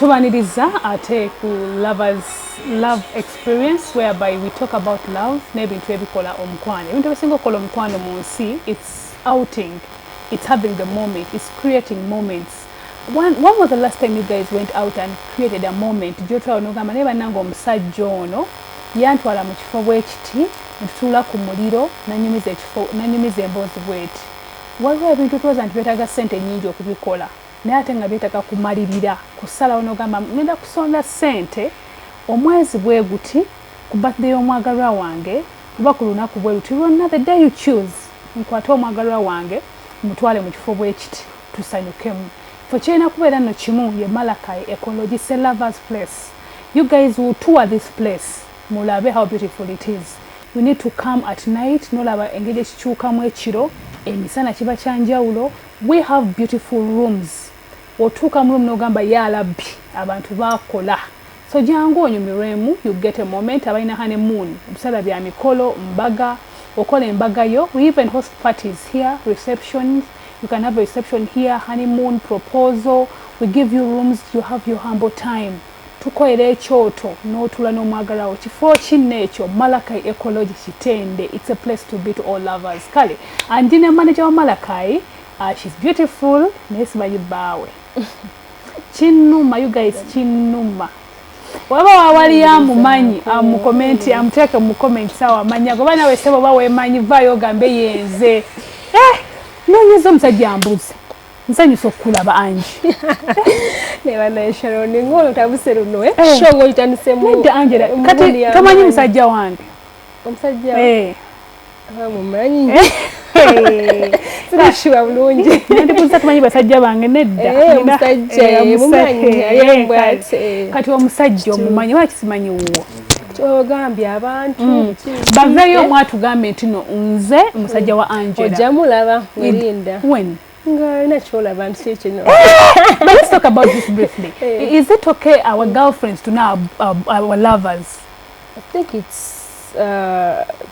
tubaniriza ate ku lovers love experience whereby we talk about love n'ebintu ebikola omukwano ebintu ebisinga okukola omukwano mu nsi its outing its having the moment its creating moments when, when was the last time you guys went out and created a moment gyotwala nogamba naye bannanga omusajja ono yantwala mu kifo bwekiti ntutuula ku muliro nanyumiza emboozi bweti waliwo ebintu twoza nti byetaaga ssente nyingi okubikola naye ate nga byetaga kumalirira kusalawo nogamba ngenda kusonda sente omwezi bweguti ku birthday yomwagalwa wange oba ku lunaku bweruti lwonna the day you choose nkwate omwagalwa wange mutwale mu kifo bwekiti tusanyukemu fe kirina kubeera no kimu ye malakai ekologise lovers place you guys will tour this place mulabe how beautiful it is you need to come at night nolaba engeri ekikyukamu ekiro emisana kiba kyanjawulo We have beautiful rooms otuuka mu room nogamba yalabbi abantu bakola so jangu onyumirwemu you get a moment abalina hane moon ebiseera bya mikolo mbaga okola embaga yo we even host parties here receptions you can have a reception here honeymoon proposal we give you rooms you have your humble time Tukoera ekyoto n'otuula n'omwagalwa wo. Kifo kinno ekyo? Malakai Ecology Kitende, it's a place to be to all lovers. Kale and ndi ne manager wa Malakai, uh, she's beautiful naye simanyi bbaawe. Kinnuma you guys, kinnuma. waba wawali amumanyi amukomenti amuteeke mukomenti sawa amanya goba nawe sebo oba wemanyi vayo ogambe yenze eh, nonyeza omusajja mbuzi nsanyusa okukulaba angi nebanaesharoni ngolo tabuse luno eh? eh. shongo itandise mu nda angela eh, kati kamanyi musajja wange omusajja eh ah, mumanyi sirashiba bulungi ndi kuza tumanyi basajja bange nedda omusajja mumanyi kati omusajja omumanyi wakisimanyi wuwo kyogambye abantu mm. baveeyo omu atugambye nti no nze musajja wa angela ojja mulaba werinda when ngalina kyolaba nti kino but let's talk about this briefly eh. is it okay our girlfriends to know our, our, our lovers i think it's uh,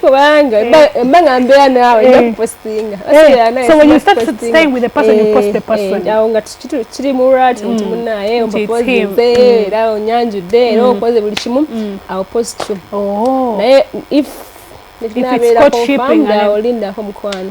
kubanga mbanga mbeera naawe nakupostinga awo nga kiri mulwati nti munaye omupozinze era onyanjudde era okoze buli kimu awo postum naye if nabeera confirmed awo lindako mukwano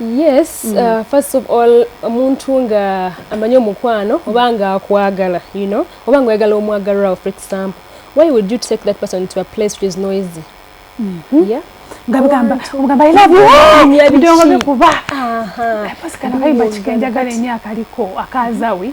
yes mm. uh, first of all omuntu nga amanyi omukwano oba nga akwagala you know oba nga oyagala omwagalirawo for example why would you take that person to a place which is noisy mm. hmm? yeah ngabigamba omugamba i love you ndongobe kuba kano kayiba kikenjagala enyo akaliko akazawi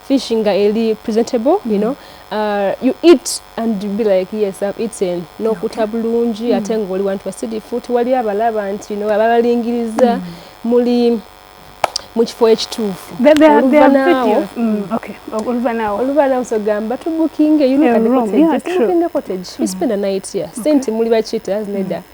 fish nga eli presentable you know uh, you eat and you be like yes I've eaten nokuta bulungi mm. ate nga oli wantu wasirifu tewali abalaba nti no ababalingiriza mm. muli mu kifo ekituufu oluvanaawo sogamba tubukinge yunukadekotage spend a night here sente muli bakiyita zineda mm.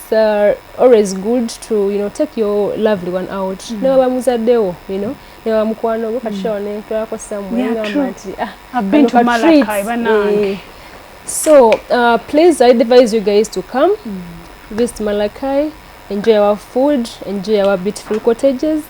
it's uh, always good to you know take your lovely one out mm. newa bamuzadewo you know newa mukwano go kachona mm. ne twako somewhere yeah, ngamba nti ah i've been to malakai banange eh. so uh, please i advise you guys to come mm. visit malakai enjoy our food enjoy our beautiful cottages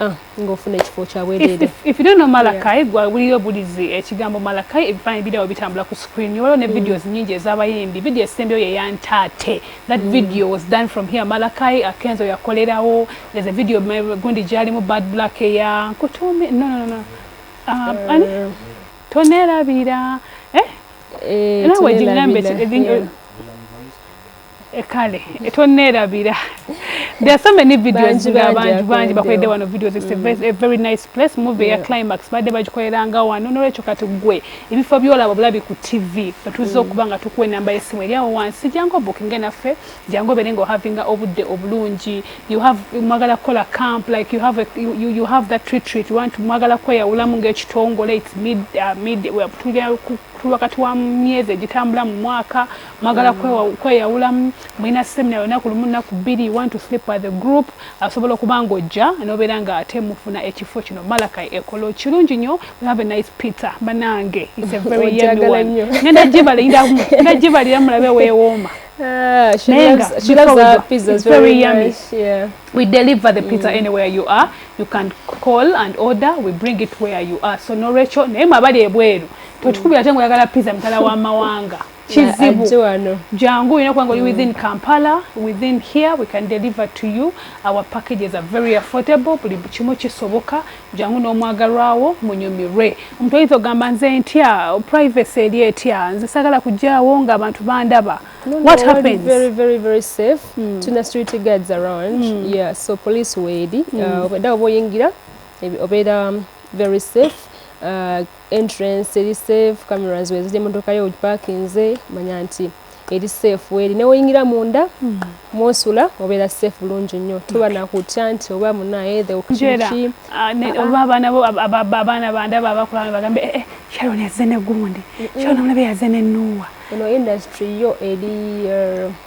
Ah, ng'ofuna ekifo kya bwereere if you don't know malakai gwa wuliyo bulizi ekigambo eh, malakai ebifaananyi birawo bitambula ku screen waliwo ne mm. videos nyingi ez'abayimbi video esembeyo ye ya ntaate that mm. video was done from here malakai akenzo yakolerawo there's a video gundi gyalimu bad black eya nkutuumi no no no um, eh. ani tonerabira eh? eh nawe gigambe Eh, kale eh, tonneerabira there are so many videos nga bangi bangi bakoledde wano videos it's mm. a very nice place movie ya climax badde bagikoleranga wano nolwekyo kati gwe ebifo byolaba bulabi ku tv otuza mm. okuba nga tukuwa enamba yesimu eryawo wansi jangu obukinge naffe jangu obere nga ohavinga obudde obulungi mwagala kukola camp like you have, a, you, you have that retreat want mwagala kweyawulamu ngaekitongole its mid, uh, mid, well, tulwa kati wa myezi egitambula mu mwaka mwagala kweyawulamu mulina semina yona ku lumu nnaku bbiri one to sleep by the group asobola okuba nga ojja nobeera nga ate mufuna ekifo kino malakai ekolo kirungi nyo we have a nice pizza banange it's a very yummy one ngenda gibaliramu ngenda gibalira mulabe wewooma Uh, she Nenga, loves, she loves our pizza. It's very, very yummy. Nice, yeah. We deliver the pizza mm. anywhere you are. You can call and order. We bring it where you are. So no Rachel, naye mwabali ebweru. Totukubira mm. tengo yagala pizza mtala wa mawanga. kizibu jangu olina kubanga oli mm. within kampala within here we can deliver to you our packages are very affordable buli kimu kisoboka jangu n'omwagalwawo munyumirwe omuntu oyinza ogamba nze ntya privacy eri etya nze sagala kujjaawo nga abantu bandaba what happens very very very safe mm. tuna street guards around mm. yeah so police weedi mm. uh, oba oyingira obeera um, very safe uh, entrance eri safe cameras weziri emotoka yo ogipakinze manya nti eri safe weri newoyingira munda hmm. mwosula obeera safe bulungi nnyo tuba nakutya nti oba munaye theokiki ah, ah. oba abaana bo abaana bandaba abakulaba bagambe eh, eh, sharon yazze ne gundi sharon omulabe yazze ne nuuwa eno industry yo eri er,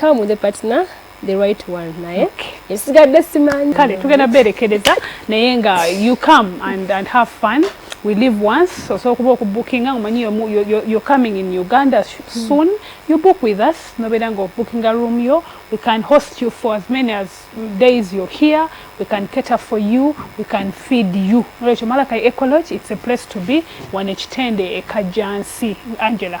come with a partner the right one naye okay. esigadde simanyi kale tugenda berekereza naye nga you come and, and have fun we live once osobola okuba okubukinga omanyi you're coming in uganda soon you book with us nobeera nga obukinga room yo we can host you for as many as days you're here we can cater for you we can feed you nolwekyo malaka ecology it's a place to be wano ekitende ekajjansi angela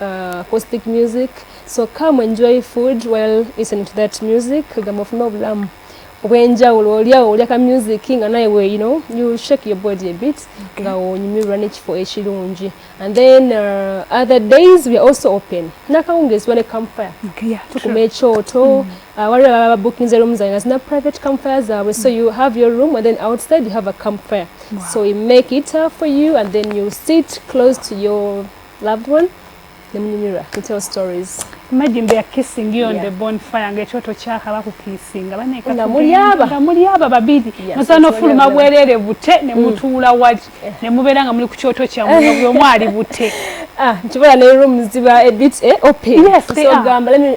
Uh, acoustic music so come enjoy food while listening to that music kagamba ofuna obulamu obwenjawulo olyawo olya ka music nga naye we you know you shake your body a bit nga onyumirwa nekifo ekirungi and then uh, other days we are also open nakawungezi wale campfire tukuma ekyoto mm. uh, waliwo ababa bookinze room zaina zina private campfire zaabwe so you have your room and then outside you have a campfire so we make it up for you and then you sit close to your Loved one, nemunyumirwa to tell stories. Imagine they are kissing you on yeah. the bonfire nga ekyoto kyakaba ku kissing abaneka nga mulyaba nga mulyaba babiri yeah, nasana so fuluma bwerere bute ne mm. mutuula mm. waji yeah. ne mubera nga muli ku kyoto kya mwe byo mwali bute ah nkibola ne room ziba a bit eh open yes, so gamba let me